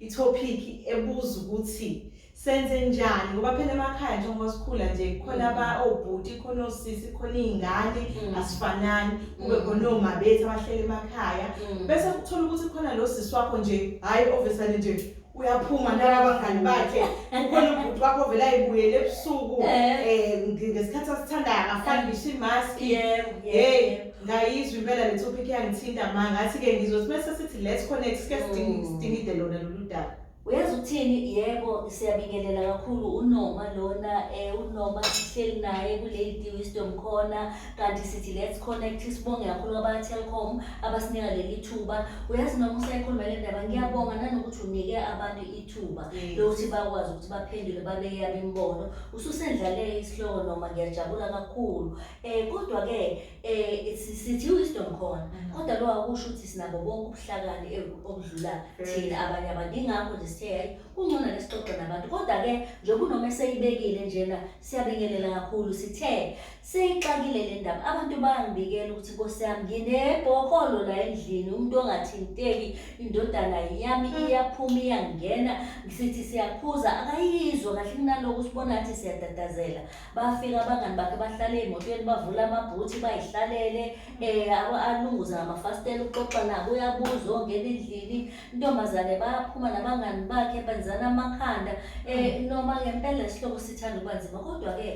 Ithophikhi ebuza ukuthi senze njani ngoba phela emakhaya njengoba sikhula nje khona ba mm. obhuti oh, khona osisi oh, khona izingane mm. asifanani kube mm. khona oma oh, bethu abahlele emakhaya bese kuthola ukuthi khona lo sisi wakho nje hayi obviously nje uyaphuma nabangani bakhe ukhona ubhuti wakho vele ayibuyele ebusuku eh, eh ngesikhathi asithandayo akafani ngisho imask yebo yebo ngayizwa impela le topic yangithinta ma ngathi ke ngizothi bese sithi let's connect sike sidingi- Mm. sidingide lona lolu daba uyazi ukuthini yebo siyabingelela kakhulu unoma lona eh unoma sihleli naye kulady wisdom khona kanti sithi let's connect sibonge kakhulu abatelcom abasinika leli thuba uyazi noma usayikhuluma le ndaba ngiyabonga nanokuthi unike abantu ithuba Yes. lokuthi bakwazi ukuthi baphendule babeke yabo imibono ususendlalele isihloko noma ngiyajabula kakhulu Eh kodwa ke eh sithi wisdom khona mm. kodwa lo akusho ukuthi sinabo bonke ubuhlakani eh, obudlula thina abanye abantu ingakho nje sithe hayi kungcono nesixoxe nabantu kodwa ke nje kunoma eseyibekile njena siyabingelela kakhulu sithe seyixakile le ndaba abantu bayangibikela ukuthi nkosi yami nginebhokolo la endlini umuntu ongathinteki indodana yami mm. iyaphuma iyangena sithi siyakhuza akayizwa kahle kunaloko usibona ngathi siyatatazela bafika abangani bakhe bahlale emotweni bavula amabhuthi bayihlalele um alunguze ngamafasitela ukuxoxa nabo uyabuza ongena endlini intombazane bayaphuma nabangani bakhe benzana amakhanda um noma ngempela isihloko sithanda ukuba nzima kodwa-ke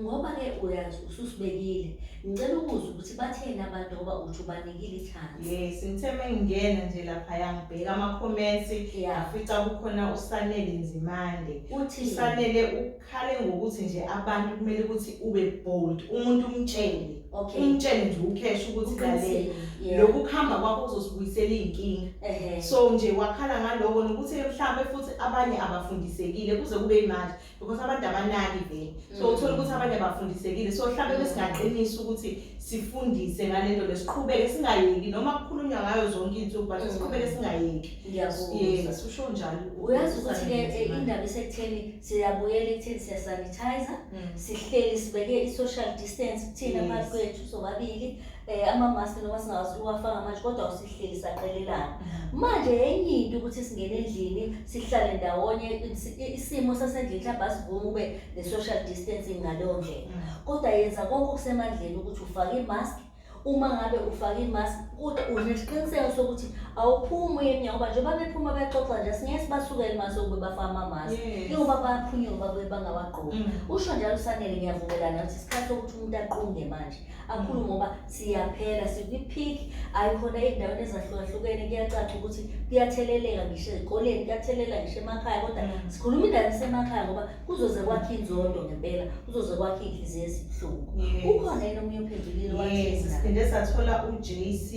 ngoba-ke uyazi ususibekile ngicela ukuza ukuthi batheni abantu ngoba uthi ubanikile ithanda yes ngithe mengingena nje laphaya ngibheka ama-comments afica kukhona usanele nzimande usanele khale ngokuthi nje abantu kumele ukuthi ube bold umuntu umtshele okay umtshele nje ukhesha ukuthi kale lokhu kuhamba kwakho kuzosibuyisela izinkinga so nje wakhala ngaloko nokuthi mhlambe futhi abanye abafundisekile kuze kube imanje because abantu abanaki vele so mm. uthola ukuthi abanye abafundisekile so mhlambe besingaqinisa ukuthi sifundise ngalento lesiqhubeke singayeki noma kukhulunywa ngayo zonke izinsuku but mm. siqhubeke singayeki ngiyakubuza usho njalo uyazi ukuthi ke eh, indaba isekutheni siyabuyela ekutheni siyasanitizer mm. sihleli sibeke i-social distance kuthina phakathi kwethu sobabili um amamaski noma singakwazi ukuwafaka manje kodwa usihleli saqelelana mm. manje enye into ukuthi singene endlini sihlale ndawonye isimo sasendlini mhlawumbe asivumi ube ne-social distancing ngaleyo ndlela mm. kodwa yenza konke okusemandleni ukuthi ufake imaski uma ngabe ufake imask kude unesiqiniseko sokuthi awuphumi uye emnyango ngoba njengoba bephuma bexoxa nje singeke sibasukele mase ukube bafaka amamask Yes. ingoba bayaphunyuka babuye bangawagqoki Mm. usho njalo usanele ngiyavumelana ukuthi isikhathi sokuthi umuntu aqunge manje akhulu ngoba siyaphela sikwi-peak hhayi khona ey'ndaweni ezahlukahlukene kuyacaca ukuthi kuyatheleleka ngisho ezikoleni kuyathelela ngisho emakhaya kodwa Mm. sikhuluma indawo esemakhaya ngoba kuzoze kwakhe inzondo ngempela kuzoze kwakhe inhliziyo ezibuhlungu ukhona yena omunye ophendulile wathesisphinde sathola u-j c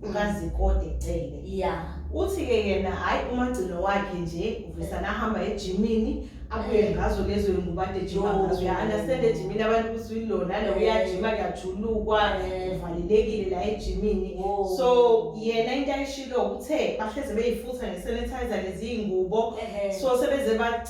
ukazikode cele ya uthi-ke yena hhayi umagcino wakhe nje uvisa nahamba ejimini abuye ngazo lezo yinguba ade jima ngazo uya-understand ejimini abantu ukuthi uyilona lo uyajima kuyajulukwa uvalelekile la ejimini so yena into ayishilo kuthe bahleze beyifutha nge-sanitizer leziyingubo so sebeze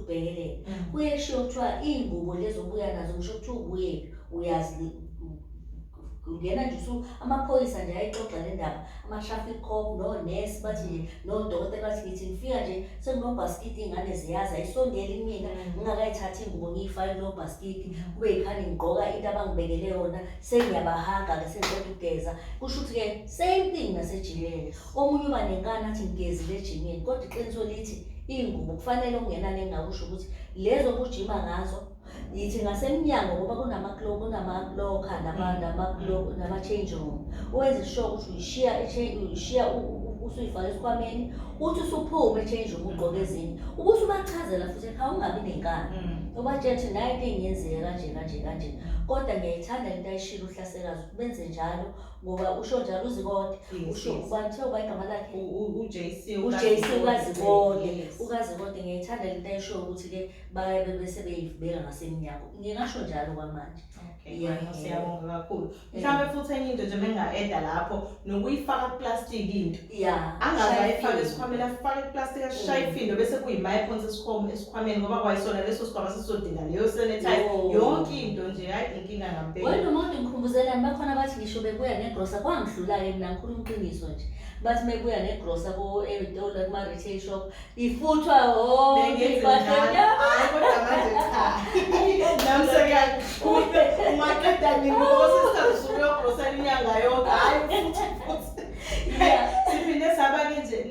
ubhekelele mm. kuye kushiwo kuthiwa iy'ngubo lezi obuya nazo kusho kuthiwa ubuyephi uyazi ungena nje usu amaphoyisa nje ayixoxa le ndaba ama-traffic cop nonesi bathi nje nodokotela bathi ngithi ngifika nje sekunobhaskidi iy'ngane ziyazi ayisondeli mina mm. ngingakayithathi iy'ngubo ngiyifake kulo bhaskidi mm. kube yikhani ngigqoka into abangibekele yona sengiyabahaga-ke sengiqeda ukugeza kusho ukuthi-ke same thing nasejileni Omunye uba nenkani athi ngigezile ejimini kodwa iqiniso lithi iy'ngubo kufanele okungenani engakusho ukuthi lezo obujima ngazo yithi ngasemnyango ngoba kunamaloka nama-change room owenze sure ukuthi uyishiya uyishiya usuyifaka esikhwameni uthi usuphume e-change room ugqoke ezinye ukuthi ubachazela futhi ekha ungabi nenkani mm. ubatshela ukuthi nayo into engiyenzile kanje kanje kanje kodwa ngiyayithanda into ayishilo uhlase kazi benze njalo ngoba usho njalo uzikode Yes, usho yes. ubani kuthiwa ubani igama lakhe U- u- uJC uJC uKazibode. ukazikode Yes. ukazikode ngiyayithanda le nto ayishoyo ukuthi-ke baye bebese beyivubeka ngasemnyango ngingasho njalo kwamanje Okay, Yeah. manje siyabonga kakhulu mhlawumbe futhi enye into nje benga-eda lapho nokuyifaka kuplastiki into Yeah. Angaze ayifake esikhwameni afake iplastic ashaye mm. ifindo bese kuyimaye phonsa esikhwama esikhwameni ngoba kwayisona leso sikhwama sisodinga leyo sanitize yonke into nje hayi inkinga ngampela. Wena umuntu ngikhumbuzela bakhona bathi ngisho bebuya negrosa kwangidlula ke mina ngikhuluma iqiniso nje. Bathi mebuya negrosa ko Eritolo kuma retail shop ifuthwa siphinde saba-ke nje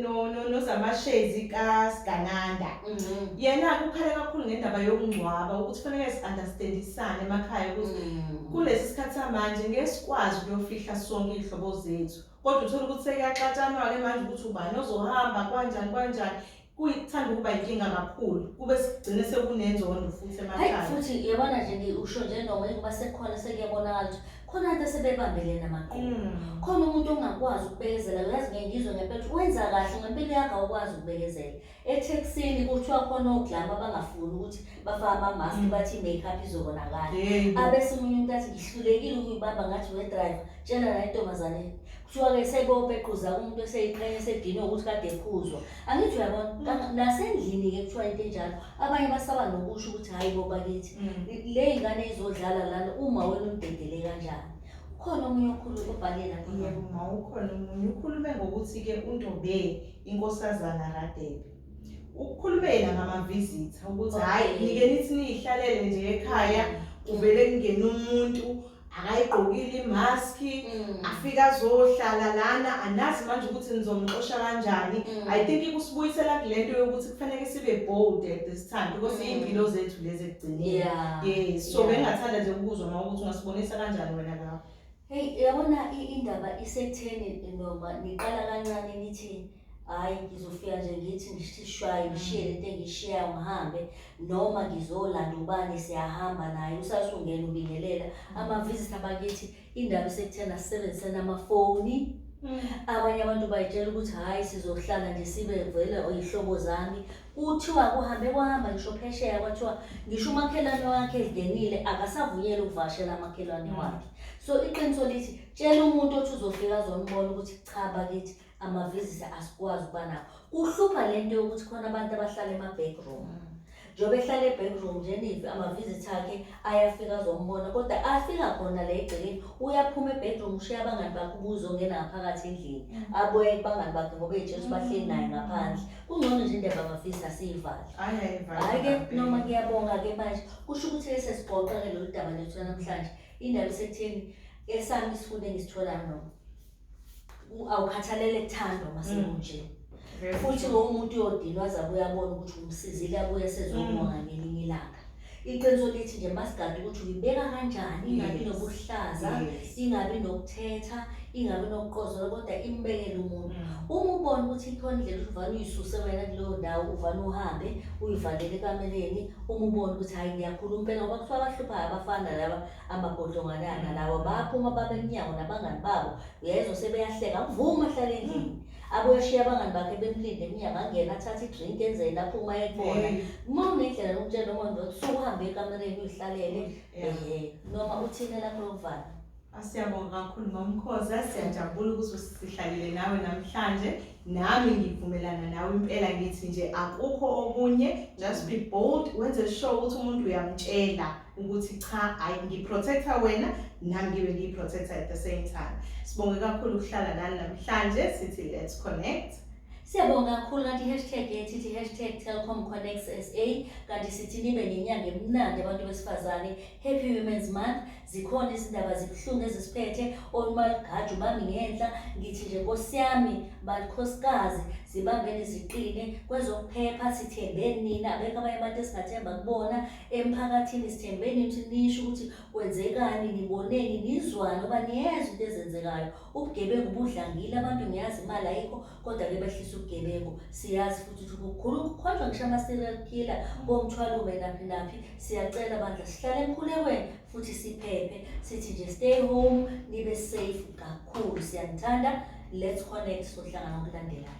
nozamashazi kasigananda mm-hmm. yena kukhale kakhulu ngendaba yokungcwaba ukuthi kufanele si-understandisane emakhaya ukuthi mm. kulesi sikhathi samanje ngeke sikwazi ukuyofihla sonke iy'hlobo zethu kodwa uthole ukuthi sekuyaxatshanwa-ke manje ukuthi ubani ozohamba kwanjani kwanjani kuyithanda ukuba inkinga kakhulu kube sigcine sekunenzondo futhi emakhaya futhi yabona nje ngiusho nje noma ukuba sekhona sekuyabonakala ukuthi khona abantu asebebambelene amaqoqo mm. khona umuntu ongakwazi ukubekezela uyazi ngengizwe ngempela wenza kahle ngempilo yakho awukwazi ukubekezela etheksini kuthiwa khona oglama abangafuni ukuthi bafake amamaski mm. bathi i-makeup izobonakala abese omunye umuntu athi ngihlulekile ukuyibamba ngathi wedriver tshela la intombazaneni kuthiwa-ke sekopequza umuntu eseyiqhenya esedinwe ukuthi kade ephuzwa angithi uyabona mm. nasendlini-ke kuthiwa into enjalo abanye basaba nokusho ukuthi hhayi bo bakithi mm. le yingane izodlala lana uma wena umdedele kanjani khona omunye okhuluma obhale lapha ukhona omunye ukhulume ngokuthi-ke untombeni inkosazana Radebe ukukhulumeni ngamavizitha ukuthi hhayi nike nithi niyihlalele nje ekhaya kuvele kungena umuntu akayigqokile imaski mm. afike azohlala lana anazi manje ukuthi nizomxosha kanjani mm. i think ikusibuyisela kule nto yokuthi kufanele sibe bold at this time because mm. iy'mpilo zethu lezi ekugcineni yes so bengingathanda nje ukuzwa uma ukuthi ungasibonisa kanjani wena lapho Hey yabona indaba isekutheni noma niqala kancane nithi hhayi ngizofika nje ngithi ngithi shwayi ngishiye lento engishiyayo ngihambe noma ngizolanda ubani siyahamba naye usasungena ubingelela amaviziti abakithi indaba isekuthena sisebenzisene amafoni mm. abanye abantu bayitshela ukuthi hhayi sizohlala nje sibe vele oyihlobo zami Kuthiwa kuhambe kwahamba ngisho phesheya kwathiwa ngisho umakhelwane wakhe ezingenile akasavunyelwe ukuvakashela amakhelwane mm. wakhe. So iqiniso lithi tshela umuntu othi uzofika azombona ukuthi cha bakithi amavizisa asikwazi ukuba nawo. Kuhlupha le nto yokuthi khona abantu abahlala ema-backroom. Mm. Njengoba ehlala e-backroom nje nive ama-visit akhe ayafika azombona kodwa afika khona la egcekeni uyaphuma ebedroom ushiya abangani bakhe ubuze ongena ngaphakathi endlini mm. abuye kubangani bakhe ngoba ejesu bahleli mm. naye ngaphandle kungcono nje indaba ngafisi asiyivale hhayi-ke noma kuyabonga-ke manje kusho ukuthi lesi sigoqa-ke lolu daba lethu namhlanje indaba isekutheni esami isifundo engisitholayo noma u- awukhathalele thando uma sekunje Very futhi true. lowo muntu uyodinwa azabe uyabona ukuthi umsizile abuye sezomona Mm. ngelinye ilanga iqiniso lithi nje masigade ukuthi uyibeka kanjani ingabi Yes. nokuhlaza Yes. ingabi nokuthetha ingabi nokuqozola kodwa imbekele umuntu Mm. uma ubona ukuthi ikhona indlela ukuthi uvane uyisuse wena kuleyo ndawo uvane uhambe uyivalele ekameleni uma ubona ukuthi hhayi ngiyakhuluma impela ngoba kuthiwa abahluphayo abafana laba Amagodlonganana lawa baphuma baba emnyango nabangani babo uyayizwa sebeyahleka amvume ahlale endlini abuye ashiye abangani bakhe bemlinde emnyango angena athathe idrink enzeni aphuma ayekubona uma unendlela lokutshela umondlo ukuthi sukuhambe ekamereni uyihlalele ehe noma uthini lakho lokuvala Asiyabonga kakhulu ngomkhoza siyajabula ukuthi sihlalile nawe namhlanje nami ngivumelana nawe impela ngithi nje akukho okunye just be bold wenze sure ukuthi umuntu uyamtshela ukuthi cha hayi ngiprotecta wena nami ngibe ngiyiprotecta at the same time sibonge kakhulu ukuhlala nani namhlanje sithi let's connect Siyabonga kakhulu kanti i-hashtag yethu ithi hashtag Telkom Connects SA kanti sithi nibe nenyanga emnandi abantu besifazane Happy Women's Month zikhona izindaba zibuhlungu ezisiphethe onumalugaju bami ngenhla ngithi nje nkosi yami balikhosikazi zibambeni ziqine kwezokuphepha sithembeni nina abekho abanye abantu esingathemba kubona Emphakathini sithembe nithi nisho ukuthi kwenzekani, niboneni, nizwani oba niyeza into ezenzekayo. Ubugebengu budlangile, abantu ngiyazi imali ayikho kodwa-ke behlisa ubugebengu. Siyazi futhi ukuthi kukhulu kukhonjwa ngisho ama-serial killer komthwalume naphi naphi. Siyacela bandla sihlale emkhulekweni futhi siphephe. Sithi nje stay home, nibe safe kakhulu. Siyanithanda. Let's connect sohlangana okulandelayo.